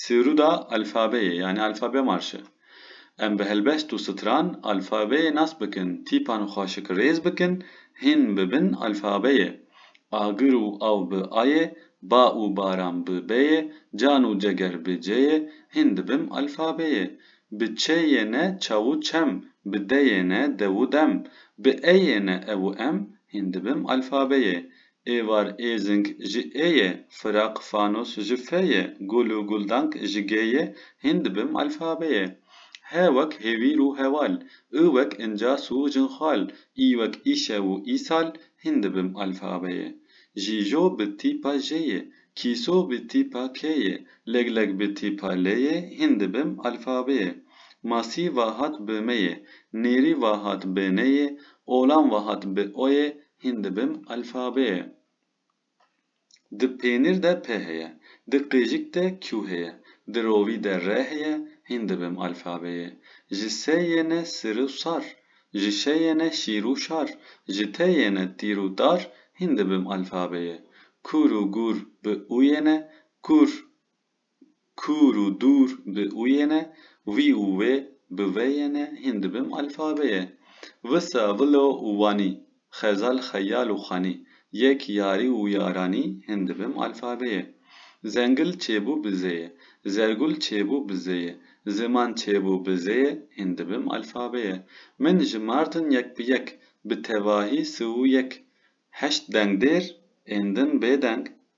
Sêrûda alfabeyê yanî alfabe marşe. Em bi helbest û stran alfabeyê nas bikin, tîpan û xaşik rêz bikin, hîn bibin alfabeyê. Agir û aw bi ayê, ba û baran bi beyê, can û ceger bi ceyê, hîn dibim alfabeyê. Bi çe yê ne çaw û çem, bi de yê ne dew û dem, bi e yê ne ew û em, hîn dibim alfabeyê. Êvar Êzing ji ê ye, Firaq Fanos ji fe ye, Gul û Guldank ji gê ye, Hîn dibim alfabê ye. He wek hêvîr û heval, û wek incas û jinxal, î wek îşev û îsal, Hîn dibim alfabê ye. Jîjo bi tîpa jê ye, Kîso bi tîpa kê ye, Legleg bi tîpa lê ye, Hîn dibim alfabê ye. Masî va hat bi me ye, Nêrî va hat bi nê ye, Olan va hat bi o ye, Hîn dibim alfabeye. Di pênîr de p heye. Di qêjik de q heye. Di rovî de r heye. Hîn dibim alfabeye. Ji se yêne sir û sar. Ji şe yêne şîr û şar. Ji te yêne tîr û tar. Hîn dibim alfabeye. Kûr û gûr bi û yêne. Kûr Kûr û dûr bi uyêne, wî û wê bi veyêne hîn dibim alfabeyê. Visa, vilo û wanî, xezal, xeyal û xanî, yek, yarî û yaranî hîn dibim alfabeyê. Zengil çêbû bi zêyê, zergul çêbû bi zêyê, ziman çêbû bi zêyê hîn dibim alfabeyê. Min jimartin yek bi yek, bi tevahî si û yek. Heşt dengdêr ên din bêdeng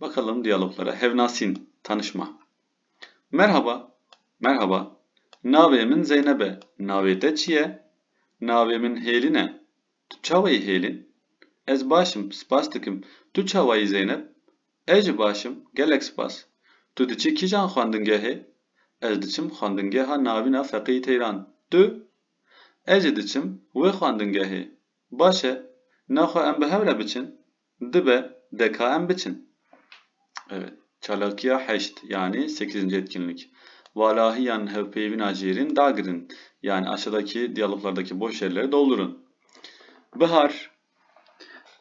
Bakalım diyaloglara, hevnasîn, tanışma Merhaba, Merhaba, navê min Zeyneb e, navê te çi ye? Navê min Hêlin e, tu çawayî Hêlin? Ez baş im, spas dikim, tu çawayî Zeyneb? Ez jî baş im, gelek spas. Tu diçî kîjan xwendingehê? Ez diçim xwendingeha Navîn a Feqîyî Teyran. Tu? Ez jî diçim wê xwendingehê. Baş e, na xwe em bi hev re biçin? Dibe DKM biçin. Evet. Çalakiya heşt yanî sekîzinci etkinlik. Valahî yan hevpeyvîna jêrîn dagirin yan aşadakî diyaloglardakî boş yerleri doldurun. Bihar,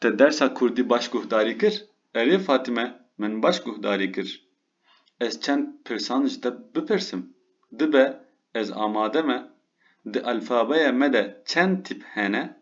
Te dersa kurdî baş guhdarî kir? Erê Fatime, Min baş guhdarî kir. Ez çend pirsan ji te bipirsim. Dibe ez amade me. Di alfabeya me de çend tîp hene?